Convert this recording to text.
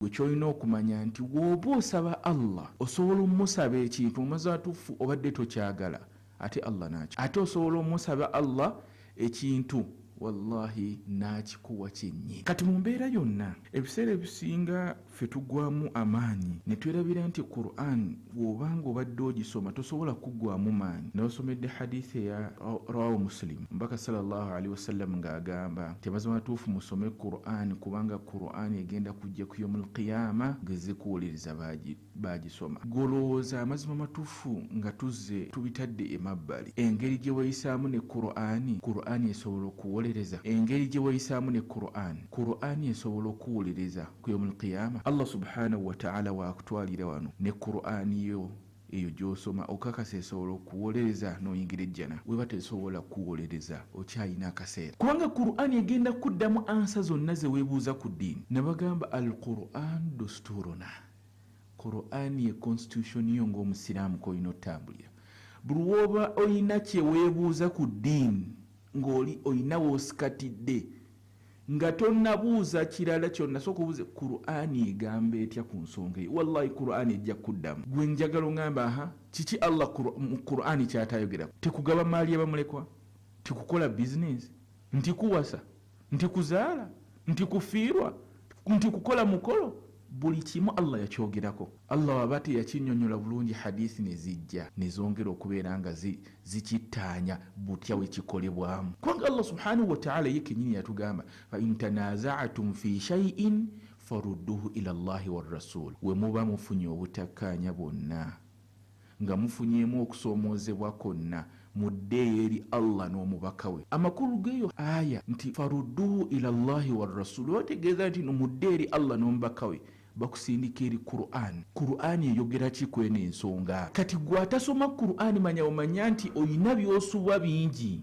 Gwe kyolina okumanya nti woba osaba Allah osobola omusaba ekintu omazatuffu obadde tokyagala ate Allah nakikuwa ate osobola omusaba Allah ekintu wallahi nakikuwa kyenyi kati mumbeera yonna ebiseera ebisinga ffe tugwamu amaanyi netwerabira nti Quran bw'oba ng'obadde ogisoma tosobola kuggwamu maanyi n'osomedde hadisi eya rawahu musilimu mbaka salllahu alaihi wasallam ng'agamba nti amazima matuufu musome qur'ani kubanga qur'ani egenda kujja ku yomu lqiyama ng'ezze kuwuliriza baagisoma golowooza amazima matuufu nga tuzze tubitadde emabbali engeri gye weyisaamu ne qur'ani qur'ani esobola okuwolereza engeri gye weyisaamu ne qur'ani qur'ani esobola okuwuliriza ku yomul qiyama allah subhanahu wataala wakutwalira wano ne qurani yo eyo gyosoma okakasa esobola okuwolereza noyingira ejjana weba tesobola kuwolereza okyalina akaseera kubanga qurani egenda kuddamu ansa zonna zewebuuza ku ddiini nabagamba al quran dosturuna qurani ye constitution yo ngaomusiraamu kolina otambulira buli woba olina kyewebuuza ku ddiini ng'oli olina wosikatidde nga tonabuuza kirala kyonna sooka obuuze qurani egamba etya ku nsonga eyo wallahi qurani ejja kukuddamu gwe njagala ongamba aha kiki allah mu qurani kyatayogeraku tekugaba maali yabamulekwa tikukola bizinesi nti kuwasa nti kuzaala nti kufiirwa nti kukola mukolo buli kimu allah yakyogerako allah waba teyakinyonyola bulungi hadithi nezijja nezongera okubeera nga zikittaanya butya wekikolebwamu kubanga allah subhanahu wataala ye kenyini yatugamba faintanazaatum fi shaiin farudduhu ila llahi warasuli wemuba mufunye obutakkaanya bwonna Nga mufunyeemu okusoomoozebwa kwonna, muddeeyo eri Allah n'omubaka we. Amakulu g'eyo aya nti, Farudduhu ila Allahi wa Rasuuli, oba tegeeza nti no mudde eri Allah n'omubaka we, bakusindika eri Qur'an. Qur'an eyogera ki kw'eno ensonga? Kati ggwe atasoma Qur'an manya bumanya nti olina by'osubwa bingi.